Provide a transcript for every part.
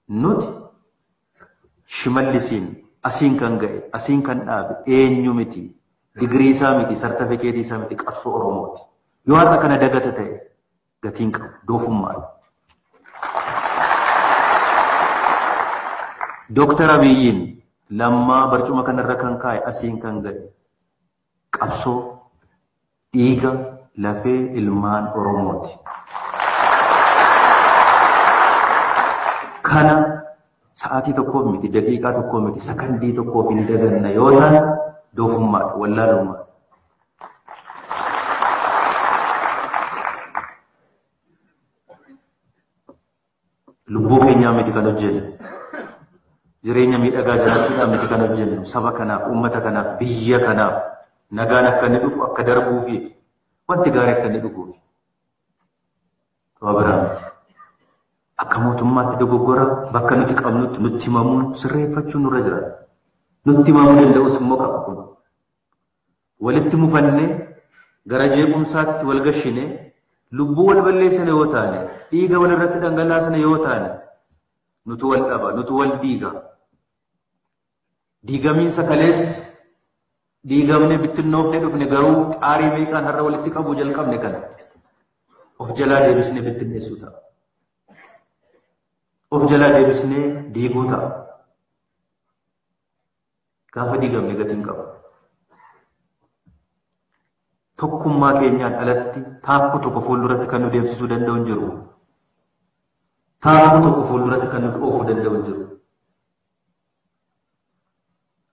Nuti Shimallisiin asiin kan ga'e, asiin kan dhaabe eenyu miti, digirii isaa miti, sartafikeetii isaa miti, qabsoo Oromooti. Yoo har'a kana dagata ta'e gatiin qabu, doofummaadha. Dooktar Abiyyiin lammaa barcuma kanarra kan kaa'e asiin kan ga'e qabsoo dhiiga lafee ilmaan Oromooti. Kana sa'aatii tokkoof miti, daqiiqaa tokkoo miti, sakandii tokkoof hin daganna yoo taane doofummaadha, wallaalummaadha. Lubbuu keenyaa miti kan hojjennu. Jireenya miidhagaa jiraachuudhaan miti kan hojjennu. Saba kanaaf, uummata kanaaf, biyya kanaaf nagaan akka inni dhufu akka darbuufi wanti gaarii akka inni dhufuufi. Waa biraa miti. Akka mootummaatti dogoggora bakka nuti qabnutti nutti himamuun sirreeffachuun nurra jira. Nutti himamuu danda'us immoo qaba kun. Walitti mufannee, gara jeequmsaatti wal gashinee, lubbuu wal balleessina yoo taane, dhiiga wal irratti dhangalaasina yoo taane, nutu wal dhaba, nutu wal diiga. Diigamiinsa kaleessa diigamnee bittinnoofnee dhufne garuu xaarii meeqaan har'a walitti qabuu jalqabne kana of jalaa deebisnee bittinneessuu ta'a. Of jalaa deebisnee diiguu ta'a. Gaafa diigamne gatii hin qabu. Tokkummaa keenyaan alatti taakkuu tokko fuulduratti kan nu deemsisuu danda'u hin jiru. Taakkuu tokko fuulduratti kan nu oofuu danda'u hin jiru.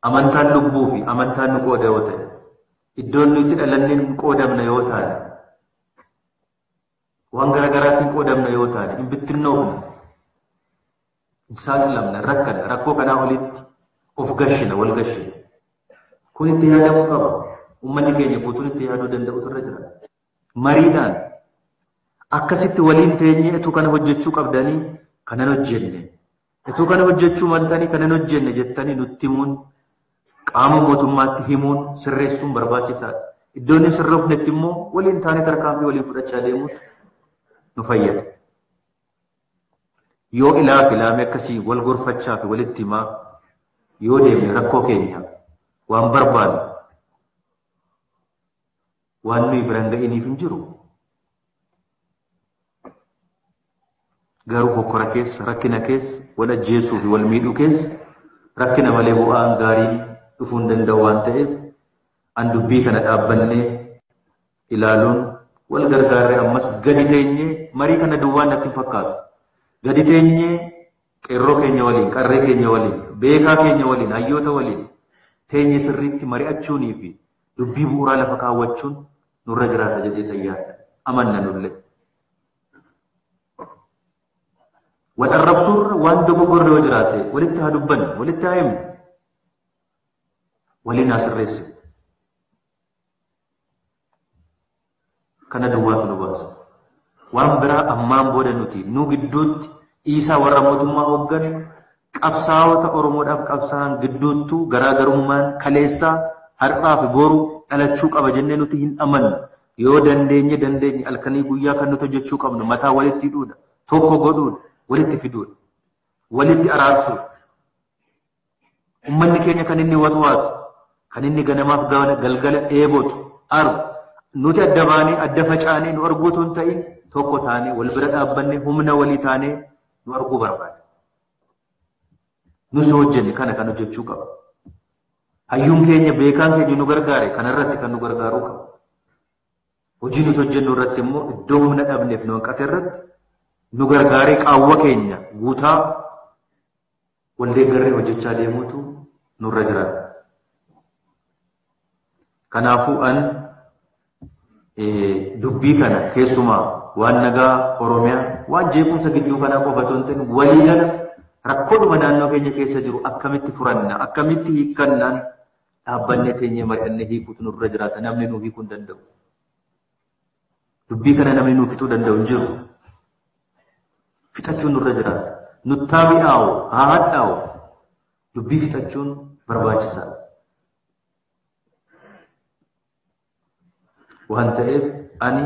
Amantaan lubbuu fi amantaan nu qooda yoo ta'e, iddoon nu itti dhalanneen qoodamna yoo taane, waan garaagaraatiin qoodamna yoo taane, hin bittinnoofne. saaxilamna rakkanna rakkoo kanaa olitti of gashina wal gashina kun itti yaadamuu qaba ummanni keenya guutuun itti yaaduu danda'utu irra jira mariidhaan akkasitti waliin teenyee etuu kana hojjechuu qabdanii kanan hojjenne etuu kana hojjechuu maltanii kanan hojjenne jettanii nutti himuun qaama mootummaatti himuun sirreessuun barbaachisaadha iddoo inni sirroofnetti immoo waliin taanee tarkaanfii waliin fudhachaa deemuun nu fayyada. Yoo ilaa fi laamee akkasii wal gorfachaa fi walitti himaa yoo deemne rakkoo keenya waan barbaannu waan nuyi biraan ga'iniif hin jiru. Garuu hokkora keessa, rakkina keessa, wal ajjeesuu fi wal miidhuu keessa rakkina malee bu'aan gaariin dhufuu hin danda'u waan ta'eef an dubbii kana dhaabbannee ilaaluun wal gargaarree ammas gadi teenyee marii kana duwwaan natti hin fakkaatu. Gadi teenyee qeerroo keenya waliin, qarree keenya waliin, beekaa keenya waliin, hayyoota waliin teenyee sirriitti mari'achuunii fi dubbii bu'uuraa lafa kaawwachuun nurra jiraata jedhee tayyaadha. Amanna nullee. Wal arrabsuurra waan dogoggorre yoo jiraate walitti haa dubbannu, walitti haa himnu, waliin haa sirreessinu. Kana duwwaatu nu baasa. Waan biraa ammaan booda nuti nu gidduutti dhiisaa warra mootummaa hooggan qabsaa'ota Oromoodhaaf qabsaa'an gidduuttuu garaagarummaan kaleessaa har'aa fi boru dhalachuu qaba jennee nuti hin amannu. Yoo dandeenye dandeenye halkanii guyyaa kan nuti hojjechuu qabnu mataa walitti hidhuudha. Tokko godhuudha. Walitti fiduudha. Walitti araarsuudha. Ummanni keenya kan inni watwaatu, kan inni ganamaaf galgala dheebotu, aru, nuti adda baanee, adda facaanee nu arguu otoo hin ta'in tokko taanee wal bira dhaabbannee humna walii taanee nu arguu barbaada. Nus hojjenne kana kan hojjechuu qaba. Hayyuun keenya beekaan keenya nu gargaare kanarratti kan nu gargaaruu qaba. Hojii nuti hojjennu irratti immoo iddoo humna dhabneef nu hanqate irratti nu gargaaree qaawwa keenya guutaa Wal deeggarree hojjechaa deemuutu nurra jiraata. Kanaafuu an dubbii kana keessumaa waan nagaa Oromiyaa waan jeequmsa gidduu kanaa qofa otoo hin ta'in waliigala rakkoodhuma naannoo keenya keessa jiru akkamitti furanna akkamitti hiikkannaan dhaabbannee teenyee mari'annee hiikuutu nurra jiraata namni nuu hiikuu hin danda'u. Dubbii kana namni nuu fixuu danda'u hin jiru. Fixachuun nurra jiraata. Nuttaa mi'aawu, haa hadhaa'u. Dubbii fixachuun barbaachisaadha. Waan ta'eef ani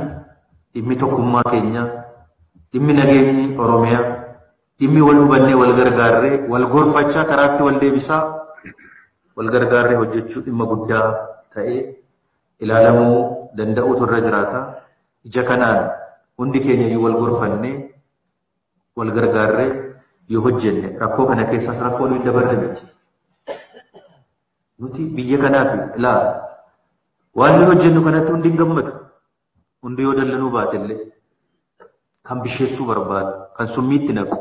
dhimmi tokkummaa keenyaa, dhimmi nageenyi Oromiyaa, dhimmi wal hubannee wal gargaarree wal gorfachaa karaatti wal deebisaa wal gargaarree hojjechuu dhimma guddaa ta'ee ilaalamuu danda'uutu irra jiraata. Ija kanaan hundi keenya iyyuu wal gorfannee wal gargaarree yoo hojjenne rakkoo kana keessaas rakkoo nuyi dabarre miti. Nuti biyya kanaaf ilaa waan nuyi hojjennu kanatti hundi hin gammadu. Hundi yoo dallanuu baate illee kan bisheessuu barbaadu, kan summiitti naqu.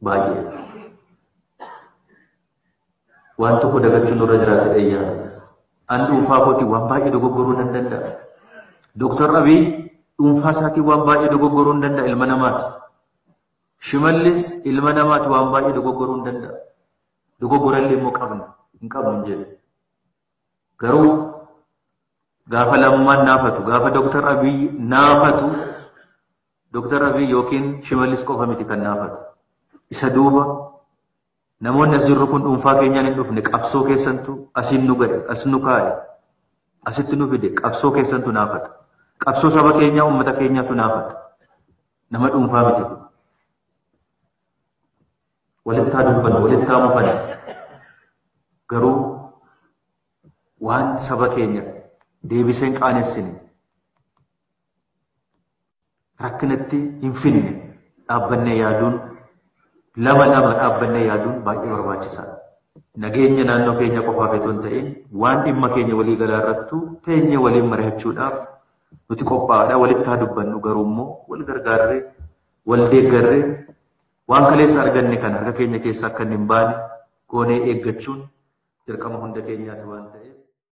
baay'ee waan tokko dagachuun nurra jiraate dhayyaa an dhuunfaa kooti waan baay'ee dogoggoruu nan danda'a. Dooktar Abiy dhuunfaa isaatiin waan baay'ee dogoggoruu hin danda'a ilma namaati. Shimallis ilma namaati waan baay'ee dogoggoruu hin danda'a. Dogoggorallee immoo qabna hin qabnu hin jedhu. Garuu gaafa lammaan naafatu gaafa Dooktar Abiy naafatu Doktar Abiy yookiin Shimallis qofa miti kan naafate. Isa duuba namoonni as jirru kun dhuunfaa keenyaan hin dhufne qabsoo keessantu asiin nu gahe, as nu kaa'e, asitti nu fide qabsoo keessantu naafata. Qabsoo saba keenyaa uummata keenyaatu naafata. Nama dhuunfaa miti kun. Walittaa dubbanna, walittaa mufanna. Garuu waan saba keenya deebiseen qaanessine rakkinatti hin finne dhaabbannee yaaduun lama lama dhaabbannee yaaduun baay'ee barbaachisaadha. Nageenya naannoo keenya qofaaf otoo hin ta'in waan dhimma keenya walii galaa irrattu teenyee waliin mari'achuudhaaf nuti qophaa'aadha walitti haa dubbannu garuu immoo wal gargaarree wal deeggarree waan kaleessa arganne kana harka keenya keessa akka hin baane goonee eeggachuun dirqama hunda keenyaati waan ta'eef.